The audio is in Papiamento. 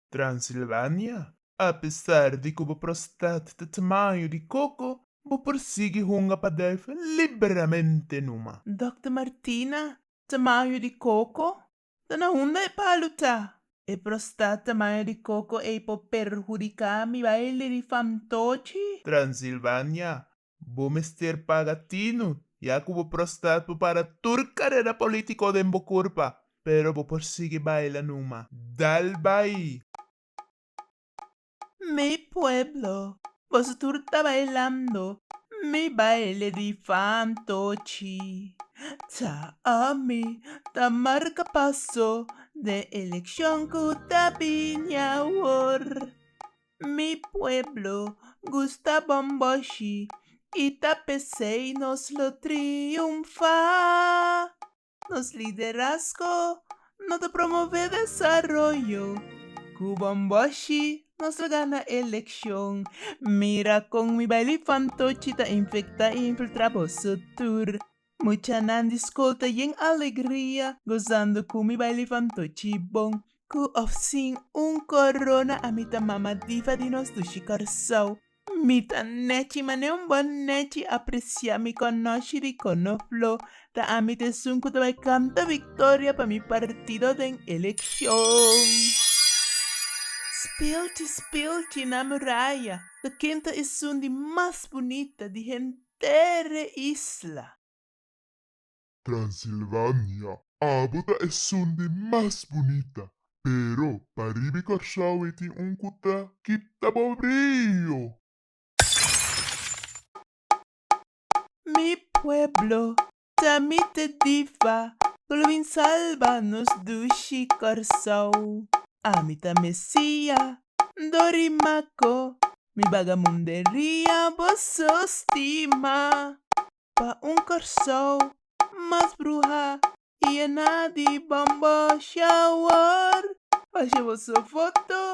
Transilvania, Apesar di ku bo prostat ta tamaño di koko, bo por sigui hunga pa dèf liberamente numa. Dòkter Martina, Tamaño di koko? Ta na unda e palu ta? E prostat tamaño di koko ei por perhudiká mi baile di famtochi? Transilvania, Bo mester paga tinu, ya cu bo prostat por para tur carera politico den bo curpa, pero bo por sigui baila numa. Dal bay! Mi pueblo, boso tur ta bailando mi baile di fantochi. Ta ami ta marca paso den eleccion cu ta bini awor. Mi pueblo gusta bomboshi y ta pesey nos lo triunfa. Nos liderazgo no ta promove desaroyo, cu bomboshi nos lo gana eleccion. Mira con mi baile fantochi ta infecta y infiltra boso tur. Muchanan di skol ta yen alegria gozando ku mi bai levantó chibon. Ku òf sin un korona a mi ta mama diva di nos dushi Kòrsou. Mi ta nèchi manera un bon nèchi apresiá mi kònòshi di konofló. Ta ami ta esun ku ta bai kanta viktoria pa mi partido den elekshon. Spilchi spilchi na muraya ta ken ta esun di mas bunita di henter. tere isla. Transilvania. Abo ta esun di mas bunita, pero pa ribi Kòrsou e tin un ku ta kita bo brio. Mi pueblo Ta mi te diva cu lo bin salba nos dushi Corsou A mi ta Mesia, N do rima co mi bagamunderia Boso stima pa un Corsou mas bruha Yena di bombo shower Faci boso foto